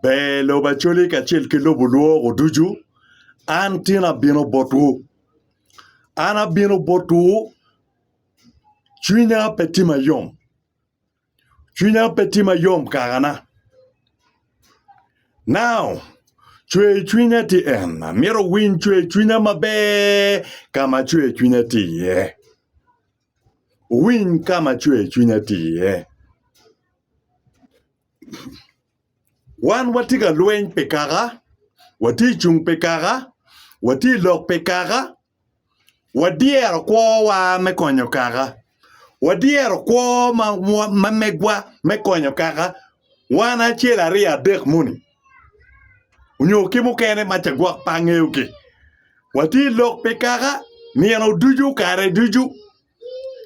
Ber lobo Acholi kacel ki lobo lwoko ducu, an tin abino botwu. An abino botwu, cwinya pe tye mayom, cwinya pe tye mayom kakana. Now, cwer cwinya tye en, amito winy cwer cwinya maber ka ma cwer cwinya tye iye. Wuwiny ka ma cwer cwinya tye iye. Wan watye ka lweny pi kaka, watye i cung pi kaka, watye i lok pi kaka, wadyero kwowa me konyo kaka, wadyero kwo ma megwa me konyo kaka, wan acel aryo adek moni nyo ki mukene ma ca gwok pe angeyogi. Watye i lok pi kaka nino ducu kare ducu.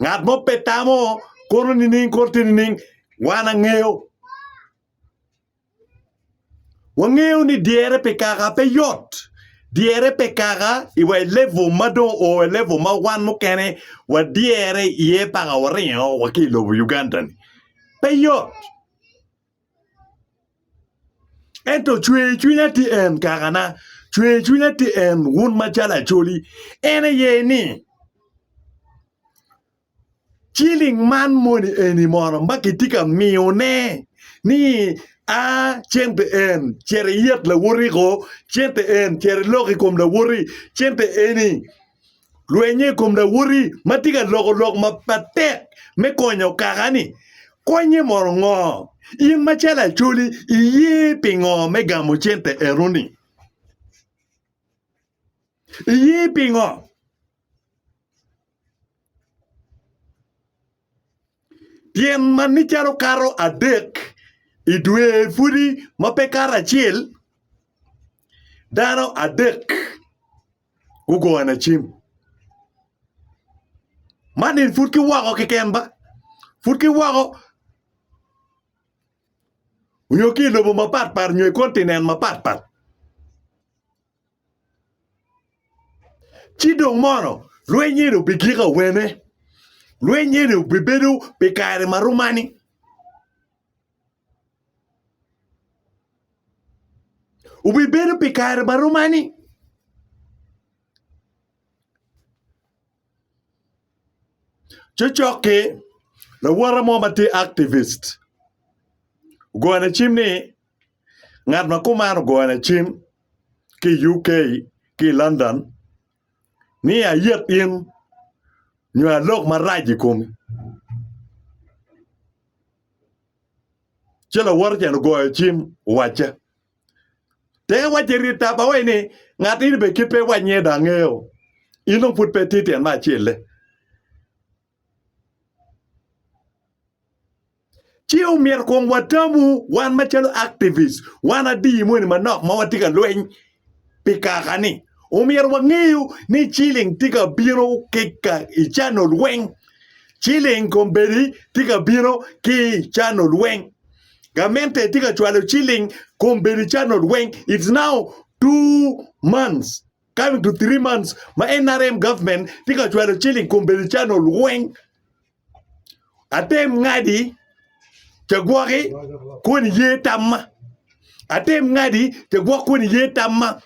Ngat mo pe tamo kono nining kono tye nining wan angeyo. Wangeyo ni dyere pi kaka pe yot. Dyere pe kaka i wa i level ma dong o i level ma wan mukene wadyere iye paka waringo wa ki i lobo Uganda-ni. Pe yot. Ento cwercwinya tye en, kakana, cwercwinya tye en, wun macalo Acholi, en aye ni, ciling man moni eni mono ma kitye ka miyone ni a cente en cito iyet lawoti-gu, cente en cito ilok i kom lawoti, cente eni Lwenye i kom lawoti ma tye ka loko lok matek me konyo kaka-ni konye mono ngo? In macalo Acholi iye pingo me gamo cente enoni? Iye pingo? Tyen ma ni calo kato adek i dwe pudi ma pe kato acel dano adek. gugo ana cim. Man eni pud ki woko keken ba. Pud ki woko onyo ki i lobo mapat pat onyo i kontinen mapat pat. Ci dong mono lweny eni obi giko awene? Lweny eni obi bedo pi kare ma rom mani? Wubibedo pi kare ma rom ani? Cocoki, lawote mo ma tye activist ogone cim ni ngat ma kuman ogone cim ki i UK ki i London ni ayet in nyo alok marac i komi. Ci lawote-ni ogoyo cim owacce, Te wacce rit ta ba wai ni, Ngat eni bene kit pe iwac niyee dong angeo. In dong pud pe itye tyen me acel-le. Ci omyero kong watamu wan macalo activist, wan adiyi moni manok ma watye ka lweny pi kaka-ni, omyero wangeyo ni ciling tye ka bino ki ka i cano lweny. Ciling kombeddi tye ka bino ki i cano lweny. Gamente tye ka cwalo ciling kombeddi cano lweny. It's now two months coming to three months ma NRM government tye ka cwalo ciling kombeddi cano lweny. Atem ngadi te gwoki kun iye tamma. Atem ngadi te gwok kun iye tamma.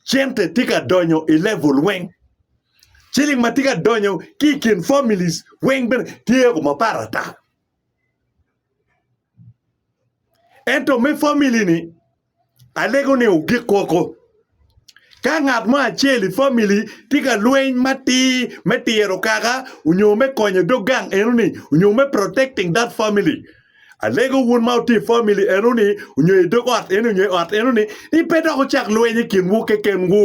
Cente tye ka donyo i level weng. Ciling ma tye ka donyo ki i kin families weng bene tye o mapat ata. Ento me family ni Alego ni ogik koko. Ka ngat mo acel i family tye ka lweny matir me tiro kaka nyo me konyo dog gang eno ni nyo me protecting that family alego wun ma wutye i family eno ni nyo i dog ot eno ni pe dok wucak lweny i kinwu kekenwu.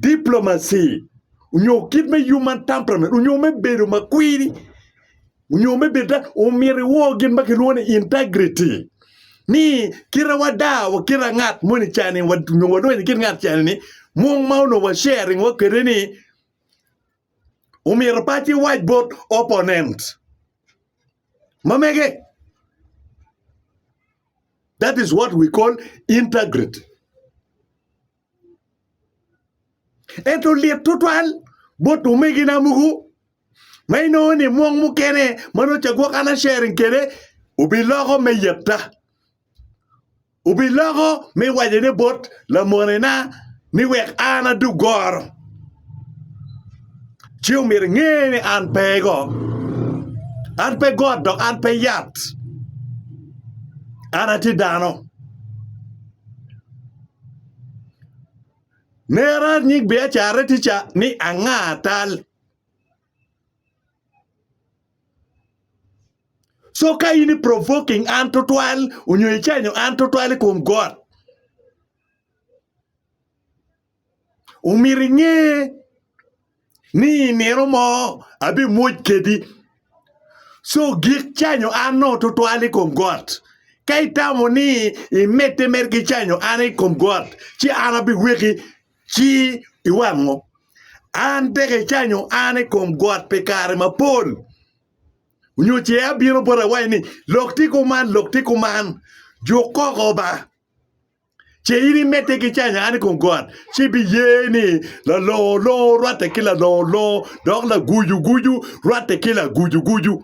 diplomacy onyo kit me human temperament onyo me bedo ma kwiri onyo me bedo omyero iwor gin ma kilwongo ni integrity ni kite wada wa kite ngat moni cani onyo wadonyo i kit ngat cani ni mung ma onongo wa sharing wa kwede ni omyero paci iwac bot opponent ma mege that is what we call integrity. Ento lit tutwal bot omegina mogo ma inongo ni mwong mukene ma nongo ca gwok an a-sharing kwede obiloko me yetta, obiloko me wacone bot lamonena ni wek an adug goro. Ci omyero inge ni an pe go, an pe got dok an pe yat, an atye dano. Nera nyig biacarre tica ni anga tal. Co ka in i provoking an tutwal onyo i canyo an tutwal i kom got. Omyero inge. ni i nino mo abimwoc kedi. Co gik canyo an nongo twatwal i kom got. Ka itamo ni imedde med ki canyo an i kom got, ci an abiweki ci iwango. An tek icanyo an i kom got pi kare mapol. Nyo ce abino boti awaci ni, 'Lok ti kuman, lok ti kuman, juk koko ba. ce in imedde ki canya an kong got, ci ibiye ni lalongo longo rwatte ki lalongo longo, dok lagucu gucu rwatte ki lagucu gucu.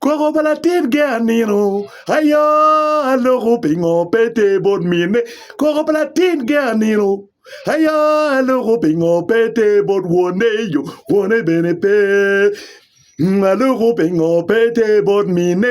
Koko pa latin ge anino, aya aloko pingo pe te bot mine. Koko pa latin ge anino, aya aloko pingo pe te bot wone yo, wone bene pe. Mm, Aloko pingo pe te bot mine,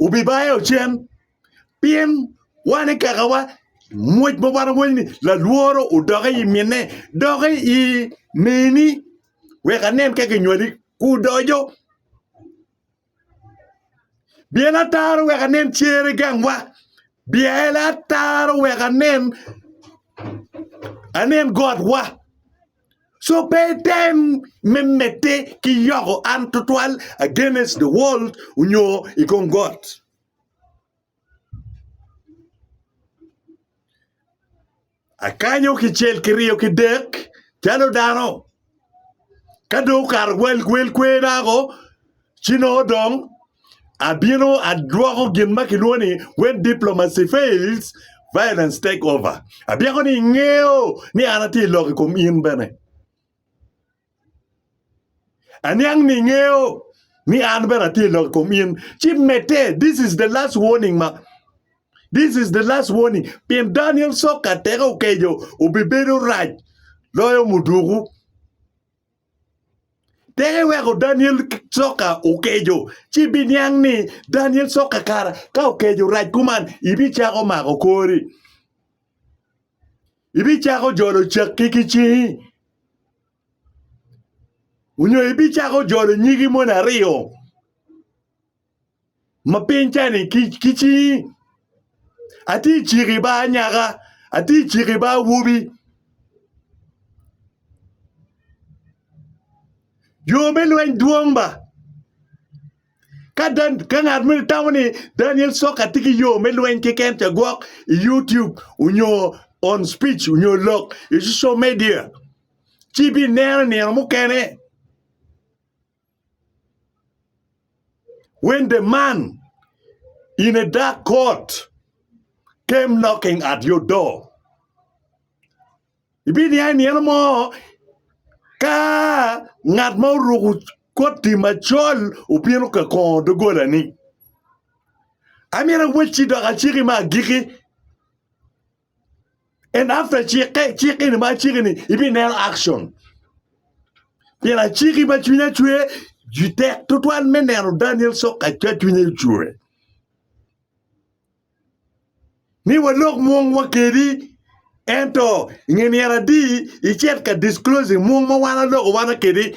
wubibayo cen pien wan i kakawa. Ngwec ma wan wawaco ni lalworo odoki i mine, doki i neni wek anen ka kinywali kudoco. Byel ataro wek anen cere gangwa, byel ataro wek anen, anen gotwa. So pe item me medde ki yoko an tutwal against the world onyo i kom got. Akanyo kicel kiryo kidek calo dano. Ka dong okato wel kwer dako Ci nongo dong abino adwoko gin ma kilwongo ni When Diplomacy Fails, Violence Take Over. Abyeko ni ingeyo ni an atye i lok i kom in bene. Aniang ni ingeyo ni an bene atye i lok i kom in. Ci medde, this is the last warning ma This is the last warning. Pien Daniel Soka teke okeco obibedo rac loyo muduku. Tek iweko Daniel soka okeco, ci ibiniang ni Daniel soka kara ka okeco rac kuman, ibicako mako kori, ibicako jolo cakki ki cingi, onyo ibicako jolo nyigi moni aryo. ma piny ca-ni ki cingi, atye ka ciko i baa anyaka, atye ka ciko i baa awobi. Yo me lweny dwong ba, ka ngat moni tamo ni Daniel Coka tye ki yo me lweny keken ca gwok i YouTube nyo on speech nyo lok i social media ci ibineno i nino mukene. Wende man in a dark court came knocking at your door. Ibiniya i nino mo ka ngat ma oruko koti macol obino ka kongo dogolani. Amito awecci dok aciki me agiki. and after cikke cik eni ma aciki ni ibineno action pien aciki ma cwinya cwer ju tek tutwal me neno Daniel Soka ca cwinye ocwer ni walok mwongwa kedi ento nge myero adi icit ka disclosing mwong ma wan aloko wana kedi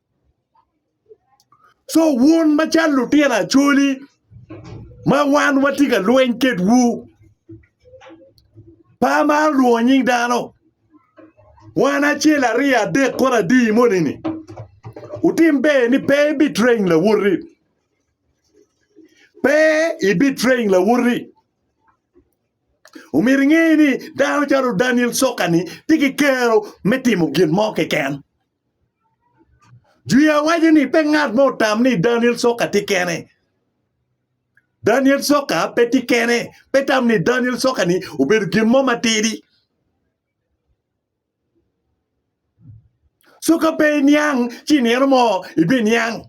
So wun macalo lutino Acholi ma wan watye ka lweny kedwu, pe amaro lwongo nying dano, wan acel aryo adek kono adi moni-ni, wutim ber ni pe ibitrain lawoti, pe ibitrain lawoti, omyero inge ni dano calo Daniel Sokka-ni tye ki kero me timo gin mo keken. Juya waco ni pe ngat mo otam ni Daniel Soka tye kene. Daniel Soka pe tye kene. Pe tam ni Daniel Soka ni obedo gin mo matidi. Soka pe iniang ci nino mo ibi niang.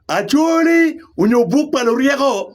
Acholi onyo buk pa luryeko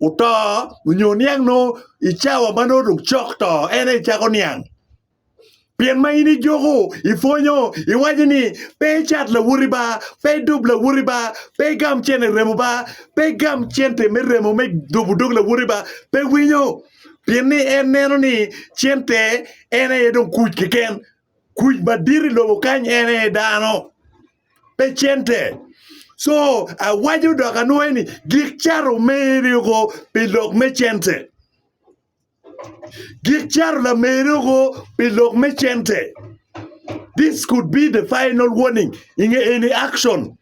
oto nyo oniang nongo i cawa ma nongo dong cok to en aye icako niang pien ma in ijuko ipwonyo iwaco ni pe icat lawoti ba pe idub lawoti ba pe igam cene remo ba pe igam cente me remo me dubo dog lawoti ba pe winyo pien ni en neno ni cente en aye dong kuc keken Kuc madit i lobo kany en aye dano, pe cente. Co awaco dok anwoyo ni gik cato meri oko pi lok me cente. Gik cato lameri oko pi lok me cente. This could be the final warning in any action.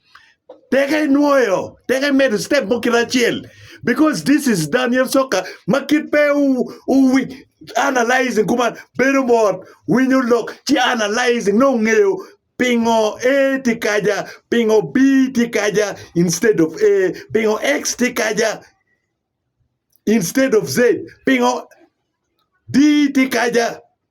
Peke inwoyo, peke imedo step mo kite acel because this is Daniel Soccer ma kit pe u, u wi- analyzing kuman bedo mot winyo lok ci analyzing nongo ngeyo pingo A tye kaja, pingo B tye kaja instead of A, pingo X tye kaja instead of Z, pingo D tye kaja.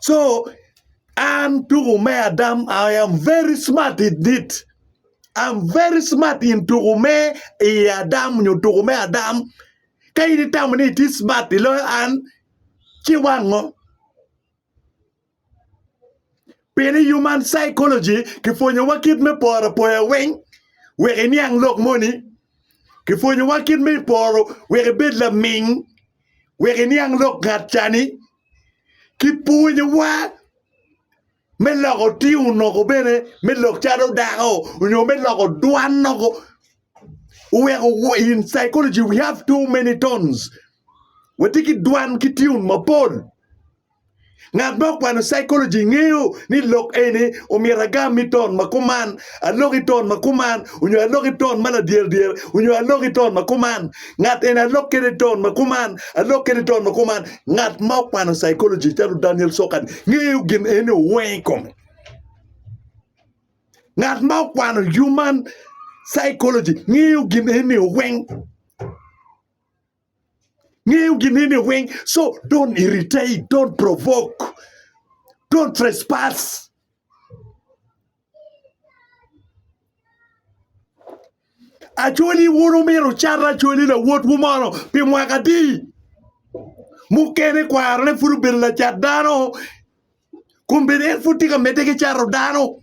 so an tuku me adam I am very smart in it I am very smart in tuku me i adam nyo tuku me adam ka in itamo ni itye smart iloyo an ci wango pien i human psychology kipwonyowa kit me poro apoya weng wek iniang lok moni kipwonyowa kit me poro wek ibed laming. wek iniang lok ngat ca-ni ki pwonyowa me loko tiyo onongo bene me lok calo dako nyo me loko dwan onongo oweko in psychology we have too many tones watye ki dwan ki tune mapol. Ngat ma okwano psychology ngeyo ni lok eni omyero agam ni ton ma kuman, alok i ton ma kuman, onyo alok i ton ma ladyerdyere, onyo alok i ton ma kuman. Ngat eni alok kede i ton ma kuman, alok kede i ton ma kuman. Ngat ma okwano psychology calo Daniel Sokan ngeyo gin eni oweng i kome. Ngat ma okwano human psychology ngeyo gin eni oweng. Ngeyo ginene weng so don't irritate, don't provoke, don't trespass. Acholi wun umito cata acholi lawot wu mono pi mwaka di mukene kwaro ne pud obedo lacat dano kun bene en pud tye ka medde ki cato dano.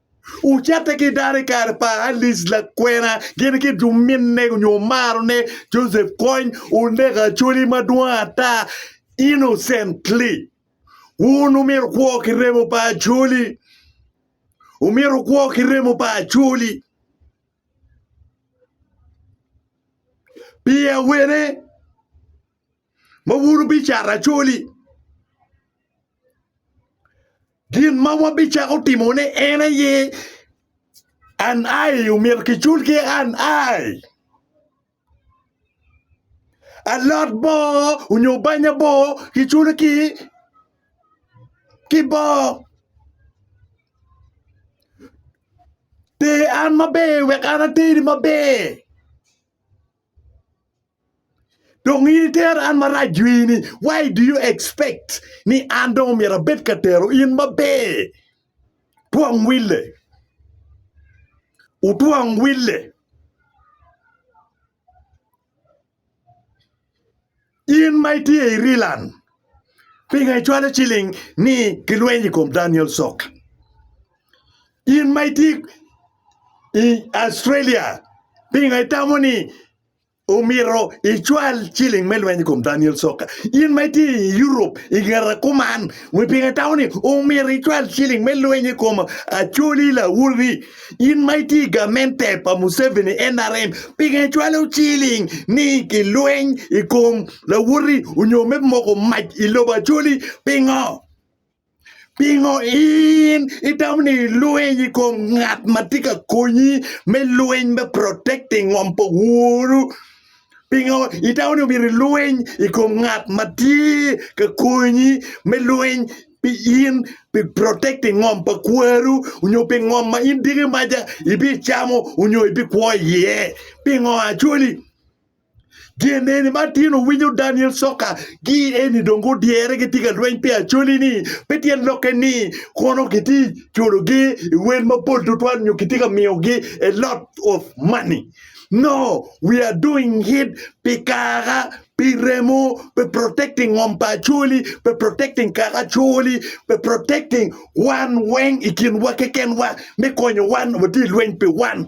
Ocatte ki dano i kare pa Alice lakwena gin ki juminne onyo omarone Joseph Kony oneko Acholi madwong ata innocently. Wun wumito kwo ki remo pa Acholi. Wumito kwo ki remo pa Acholi. Pi awene? ma wun wubicato acoli. Gin ma wabicako timone en aye an ai omyero kicul ki an ai. Alot bo onyo banya bo kiculo ki ki bo. Ter an maber wek an ateri maber. Dong in itera an marac dwi ni why do you expect ni an dong omyero abed ka tero in maber? Twong wille. Wutwong wille. In ma itye i Rilan, pingo icwalo ciling ni gilweny i kom Daniel Sok? In ma itye i Australia, pingo itamo ni Omito icwal ciling me lweny i kom Daniel Soka. In ma itye i Europe i ngeta kuman, wi pingo itamo ni omito icwal ciling me lweny i kom Acholi Lawodhi? In ma itye i gamente pa Museveni, nrm, pingo icwalo ciling ni ki lweny i kom Lawodhi onyo me moko mac i lobo Acholi? Pingo? Pingo in itamo ni ilwiny i kom ngat ma tye ka konyi me lwiny me protecting ngom pa woru? Pingo itamo ni omyero ilwiny i kom ngat ma tye ka konyi me lwiny pi in pi protecting ngom pa kwaru nyo pi ngom ma in diki maca ibicamo nyo ibikwo iye? Pingo acwali? Gin eni ma tin owinyo Daniel Soka gi eni dong gudyere gitye ka lweny pi acholi ni pe tyen lokke ni kono kitye culo gi i wen mapol tutwal nyo kitye ka miyo gi a lot of money no we are doing it pi kaka pi remo pi protecting ngom pa acholi pi protecting kaka acholi pi protecting wan weng i kin wa keken wa me konyo wan watye lweny pi wan.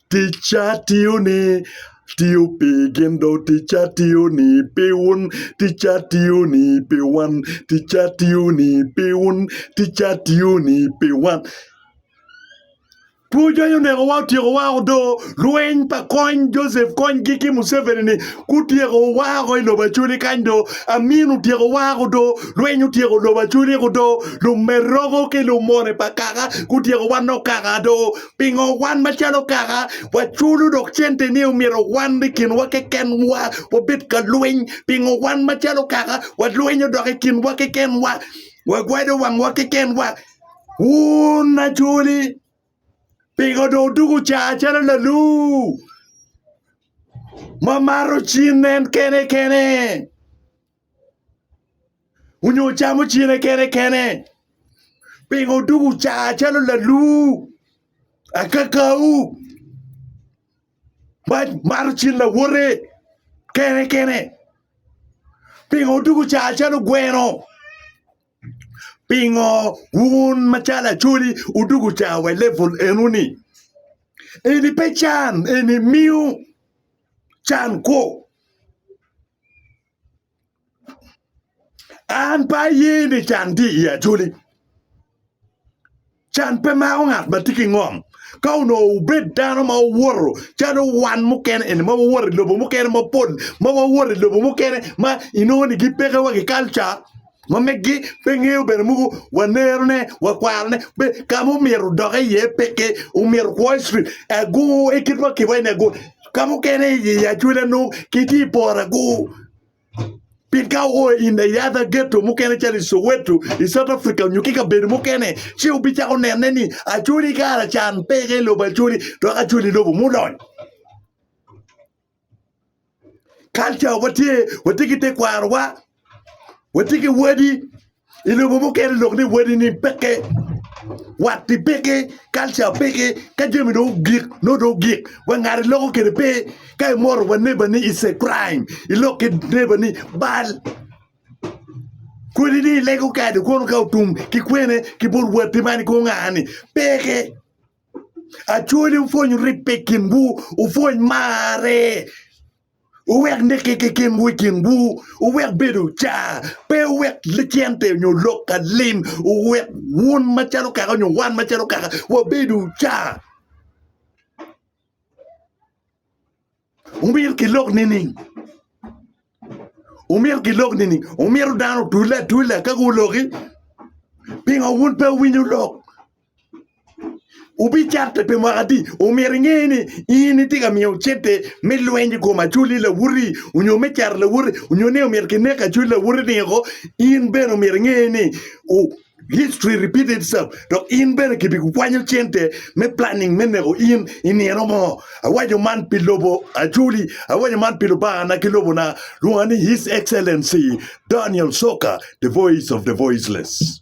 Ticca tiyoni tiyo pi gin dong ticca tiyoni pi wun ticca tiyoni pi wan ticca tiyoni pi wun ticca tiyoni pi wan Two cwiny onekowa otyekowa woko do, lweny pa kony Joseph Kony-gi ki Museveni-ni gutyeko wa woko i lobo Acholi kany do, Amin otyeko wa woko do, lweny otyeko lobo Acholi woko do, lumeroko ki lumone pa kaka gutyeko wa nok kaka do. Pingo wan macalo kaka waculo dok cente ni omyero wan i kinwa kekenwa wabed ka lweny? Pingo wan macalo kaka walwenyo dok i kinwa kekenwa wagwado wangwa kekenwa? Wun ajoli, pingo dong odugo caa calo lalu ma maro cin en kene kene? Onyo ocamo cene kene kene? Pingo odugu car calo laluu, akakau, mato cin lawote kene kene? Pingo odugu car calo gweno? Pingo wun macalo Acholi odugu car wa i level eno ni? Eni pe can, eni miyo can kwo. An pe aye ni can tye i Acholi. Can pe mako ngat ma tye ki ngom. Ka onongo wubed dano ma wuwoto calo wan mukene eni ma wawoto i lobo mukene mapol ma wawoto i lobo mukene ma inongo ni gipekewa ki kalca, Ma megi pe ngeyo bene muku wanerone wakwarone be ka ma omyero odokke iye pe ki omyero kwo i cwit agu i kit ma kiwa ni agu ka mukene i acwele nongo kitye i poro agu pien ka uo in the other ghetto mukene calo i soweto i south Africa nyo ki kabedo mukene ci wubicako nene ni acwali kara can peke i lobo acwali dok acwali lobo mudony Kalca watye, watye ki tekwarowa, watye ki wadi. I lobo mukene lok ni wadini peke, watti peke, kalca peke. Ka jami dong ogik, nongo dong ogik. Wa ngat iloko kwede pe. Ka imoto wa nebani it's a crime. Ilok ki nebani bal. Kodi ni ilego kado kono ka otum ki kwene ki bot watti man i kor nga-ni, peke. Acwali wupwony ribbe i kinwu, wupwony marre, wuwek nikke ki kinwu i kinwu, wuwek bedo car, pe wuwek lacente nyo lok ka lim, wuwek wun macalo kaka nyo wan macalo kaka wabedo car. Omyero gilok nining? Omyero gilok nining? Omyero dano otule atula ka guloki? Pingo wun pe wuwinyo lok? Wubicatte pi mwaka adi? Omyero inge ni in itye ka miyo cente me lweny i kom acoli lawoti onyo me caro lawoti onyo ni omyero kineko acoli lawoti-ni woko, in bene omyero inge ni History repeat itself dok in bene kibikwanyo cente me planning me neko in i nino mo. Awaco man pi lobo Acholi, awaco man pi Lubangana ki lobona, lwonga ni His Excellency Daniel Soka, the voice of the voiceless.